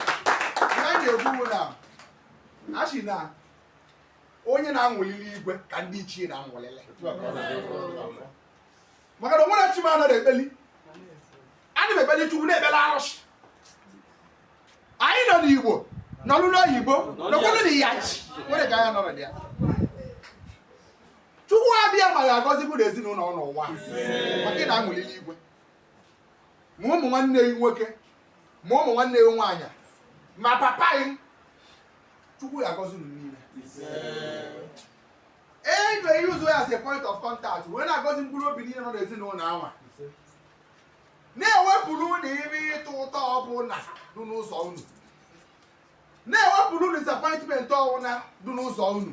ihe a na-ekwu bụ na a sị na onye na-aṅụlịlị igwe ka ndị ichie na-aṅụlịlị maka na o nwere chi m anaghị ekpeli ana m ekpeli chukwu na-ekpeli arụsị anyị nọ n'igbo nọlụ n'oyibo nọkwụlụ na ya chi nwere ka anya nọrọ dị ya chukwu abịama ya agọzi bụ na ezinụlọ n'ụwa maka ị na-aṅụlịlị igwe ma ụmụ nwanne gị nwoke ma ụmụ nwanne gị nwaanyị ma papa gị chukwu ya agọzi unu niile e ga-e-use ya as a point of contact wee na-agọzi mkpụrụ obi niile nọ n'ezinụlọ anwa na-ewepụrụ unu ime ịtụ ụtọ ọbụla dị n'ụzọ unu na-ewepụrụ disappointment ọbụla dị n'ụzọ unu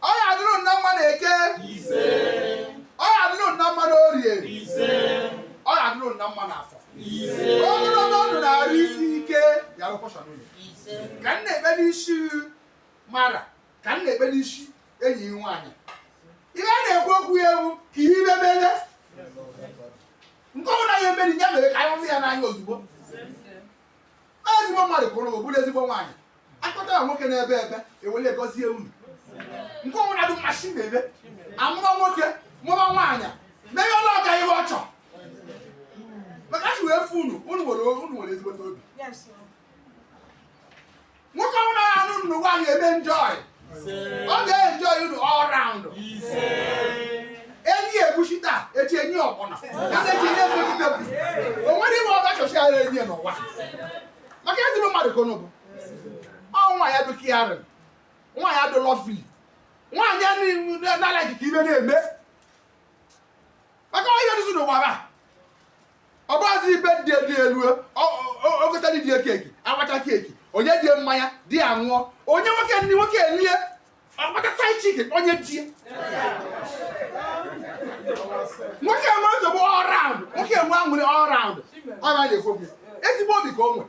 Ọ ya adịrụ unu mma na eke. Ọ ya adịrụ unu mma na orie. Ọ ya adịrụ unu mma na afọ. Ogologo ndụ na arụ isi ike ya bụ portion unu. Ka m na-ekpe n'isi mara ka m na-ekpe n'isi enyi m nwaanyị. Ihe a na-ekwu okwu ya ewu ka ihe ibe mere. Nke ọbụla ya emeri ya mere ka anyị hụ ya n'anya ozugbo. ezigbo mmadụ kwụrụ bụ bụrụ ezigbo nwaanyị akpata ya nwoke na-ebe ebe ewele gọzie unu nke ọbụna adị mmasị na-ebe amụọ nwoke mụọ nwaanyị mee ihe ọla ọga ihe ọ chọrọ maka a sị wee fụ unu unu nwere unu nwere ezigbote obi nwoke ọbụna nụ unu nwaanyị eme enjoy ọ ga-enjoy unu all round enye egwusi taa echi enyi ọbụla kasị echi enyi emegide bụ o nwere ime ọga chọchi ara enyi n'ụwa maka ezigbo mmadụ ka bụ ọ nwa ya bụ caring nwa ya bụ lovely nwaanyị a na-alaghị ka ibe na-eme maka onye dịzi n'ụwa ba ọ bụghịzi ebe di dị elu o gotara di cake agbacha cake o nye di mmanya di aṅụọ o nye nwoke nni nwoke elie ọgbata side chick onye di nwoke enwe nsogbu all round nwoke enwe aṅụrị all round ọ na-ekwu ezigbo obi ka o nwere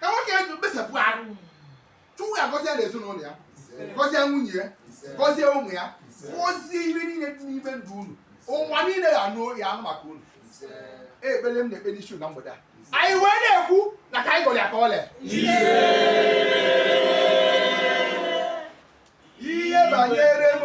ka nwoke eji gbasapụ arụ chukwu ga-agọzi ya na ezinụlọ ya gọzie nwunye ya gọzie ụmụ ya gọzie ihe niile dị n'ime ndụ unu ụwa niile ya anụ ya anụ maka unu ekpere m na-ekpe n'isi na mgbede a anyị wee na-ekwu na ka anyị gọrọ ya ka o lee ihe banyere m